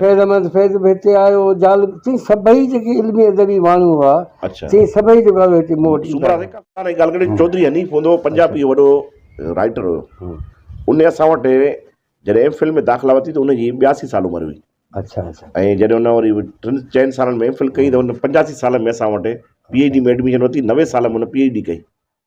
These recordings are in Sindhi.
فيض احمد فيض به هتي آيو، جال سين سڀئي جيڪي علمي ادبي ماڻهو هئا، سين سڀئي جيڪو آيو هتي مون وٽ ايندا هئا. ڳالهه ڪري چوڌري حنيف هوندو هو، پنجابي جو وڏو رائيٽر هيو. ان اسان وٽ جڏهن ايم فل ۾ داخلا ورتي ته ان جي ٻياسي سال عمر هئي. ۽ جڏهن ان وري ٽن چئن سالن ۾ ايم فل ڪئي ته ان پنجاسي سال ۾ اسان وٽ پي ايڇ ڊي ۾ ايڊميشن ورتي، نوي سال ۾ هن پي ايڇ ڊي ڪئي.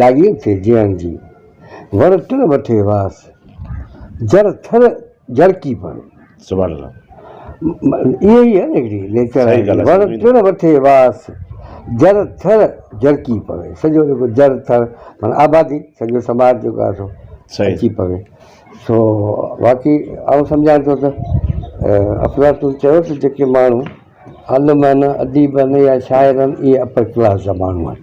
لاڳي اٿي جيئڻ جي. وڻ ٽڻ وٺي واس، جر ٿر جرڪي پڻ. سبحان الله. اهي ئي آهن هڪڙي نيچر آهي. وڻ ٽڻ وٺي واس، جر ٿر جرڪي پوي. سڄو جيڪو جر ٿر معنيٰ آبادي سڄو سماج جيڪو آهي سو اچي پوي. سو واقعي آئون سمجهان ٿو ته افلاطون چيو ته جيڪي ماڻهو عالمن، اديبن يا شاعرن اهي اپر ڪلاس جا ماڻهو آهن.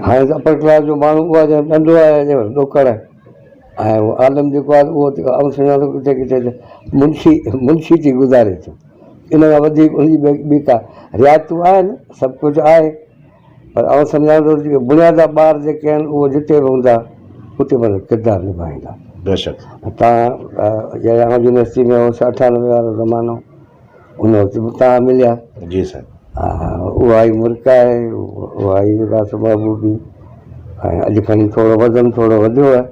هاڻي ته اپر ڪلاس جو ماڻهو اهو آهي جيڪو ڏندو آهي يا ڏوڪڙ آهي ۽ اهو عالم جيڪو آهي اهو ته آئون سمجهان ٿو ڪٿي ڪٿي ته منشي منشي ٿي گذاري ٿو. ان کان وڌيڪ ان جي ٻي ڪا رعايتون آهن سڀ ڪجهه آهي پر آئون سمجهان ٿو جيڪي بنيادا ٻار جيڪي آهن اهو جتي به هوندا اتي پنهنجو ڪردار نڀائيندا. بيشڪ. تان يونيورسٽي ۾ هوس اٺانوي وارو زمانو ان وقت به تان مليا جي سائين ها ها اها ئي مرڪ آهي اها ئي راس محبوبي ۽ اڄ کڻي ٿورو وزن ٿورو وڌيو آهي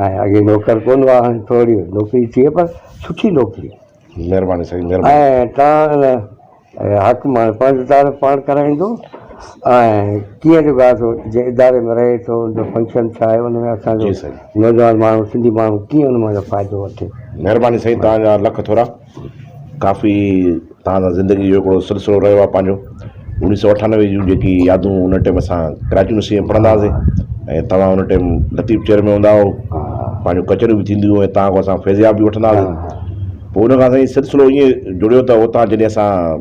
۽ اڳي نوڪر ڪون هئا هاڻي ٿوري نوڪري ٿي پر سٺي نوڪري مهرباني سائين مهرباني ۽ تان حق مان پنهنجو تعارف پاڻ ڪرائيندو ۽ ڪيئن جو ڳاهه ٿو جنهن اداري ۾ رهي ٿو ان جو فنڪشن ڇا آهي ان ۾ اسان جو جي سائين نوجوان ماڻهو سنڌي ماڻهو ڪيئن ان مان جو فائدو وٺي مهرباني سائين تان جا لک ٿورا ڪافي تان سان زندگي جو ھڪڙو سلسلو رھيو آھي پنھنجو اڻيھھ سو اٺانوي جون جيڪي يادون ان ٽيم اسان ڪراچي يونيورسٽي ۾ پڙھندا ھئاسين ۽ تمام ان ٽيم لطيف چيئر مين ھوندا ھئو پنھنجو ڪچھري بھ ٿينديون ھيون تان کان پوء اسان فيضياب بھ وٺندا ھئاسين پوء ان کان سائين سلسلو ايئن جڙيو تھ اتان جڏھن اسان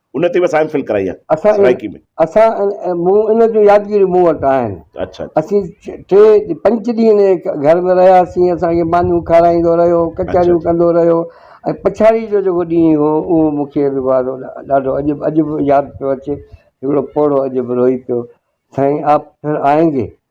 ان تي به اسان ايم فل ڪرائي آهي اسان سرائيڪي ۾. اسان مون ان جون يادگيريون مون وٽ آهن. اڇا اڇا. اسين ٽي پنچ ڏينهن ان گهر ۾ رهياسين اسان کي مانيون کارائيندو رهيو ڪچهريون ڪندو رهيو ۽ پڇاڙي جو جيڪو ڏينهن هو اهو مون کي وارو ڏاڍو اڄ اڄ به ياد پيو اچي هڪڙو پوڙهو اڄ به روئي پيو سائين آپ پھر آئينگي.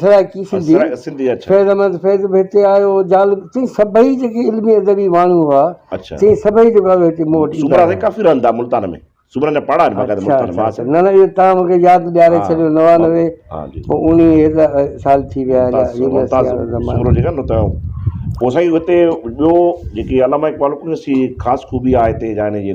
سرائڪي سنڌي، فيض احمد فيض به هتي آيو، جال تي سڀئي جيڪي علمي ادبي ماڻهو هئا، تي سڀئي جيڪو آيو هتي مون وٽ ايندا هئا. ڪافي رهندا ملتان ۾. سومرن جا پاڙا آهن باقاعده ملتان ۾. اچا نه نه اهو تان مون کي ياد ڏياري ڇڏيو نوانوي پوء اڻيهه سال ٿي ويا هيڏا يونيورسٽي وارو زمانو. سومرو جيڪا نه ته پوء سائين هتي ٻيو جيڪي علامه اقبال کان سي خاص خوبي آهي هتي جاني جي.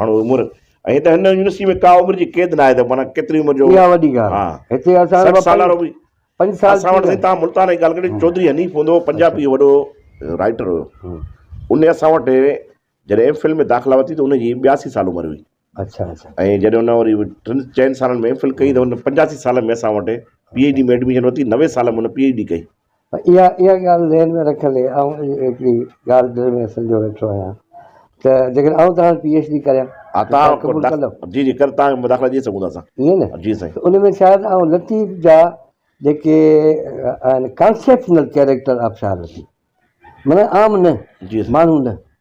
ماڻهو عمر ۽ هت هن يونيورسٽي ۾ ڪا عمر جي قيد ناهي ته معنيٰ ڪيتري عمر جو اها وڏي ڳالهه آهي هتي اسان سٺ سال وارو به پنج سال اسان وٽ سائين تان ملتان جي ڳالهه ڪري چوڌري حنيف هوندو هو پنجابي وڏو رائٽر هيو ان اسان وٽ جڏهن ايم فل ۾ داخلا ورتي ته ان جي ٻياسي سال عمر هئي اچھا اچھا ۽ جڏهن ان وري ٽن چئن سالن ۾ ايم فل ڪئي ته ان پنجاسي سال ۾ اسان وٽ پي ايڇ ڊي ۾ ايڊميشن ورتي نوي سال ۾ ان پي ايڇ ڊي ڪئي اها اها ڳالهه ذهن ۾ رکندي آئون هڪڙي ڳالهه دل ۾ سنجهيو ويٺو آهيان ته جيڪڏهن آئون توهان پي ايڇ ڊي ڪريان ها ته توهان قبول ڪندؤ؟ جي جي ڪر تان مداخلا ڏئي سگهون ٿا اسان. ائين نه؟ جي سائين. ته ان ۾ شايد آئون لطيف جا جيڪي آهن ڪانسيپشنل ڪيريڪٽر آبشار لطيف معنيٰ عام نه جي سائين. ماڻهو نه.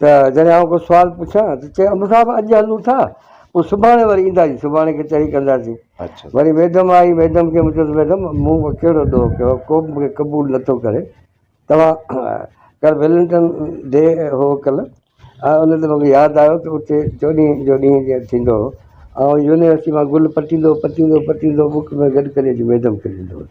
ته جڏهن آئون ڪو سوال پڇان ته چئي امڙ صاحب اڄ هلون ٿا پوء سڀاڻي وري اينداسين سڀاڻي ڪچهري ڪنداسين وري ميڊم آئي ميڊم کي مون چيس ميڊم مون ڪهڙو ڏوهه ڪيو ڪو به مونکي قبول نٿو ڪري توهان ڪل ويلنٽن ڊي هو ڪل ان تي مونکي ياد آيو ته اتي چوڏهين جو ڏينهن جيئن ٿيندو هو آئون يونيورسٽي مان گل پٽيندو پٽيندو پٽيندو بڪ ۾ گڏ ڪري اچي ميڊم کي ڏيندو هيس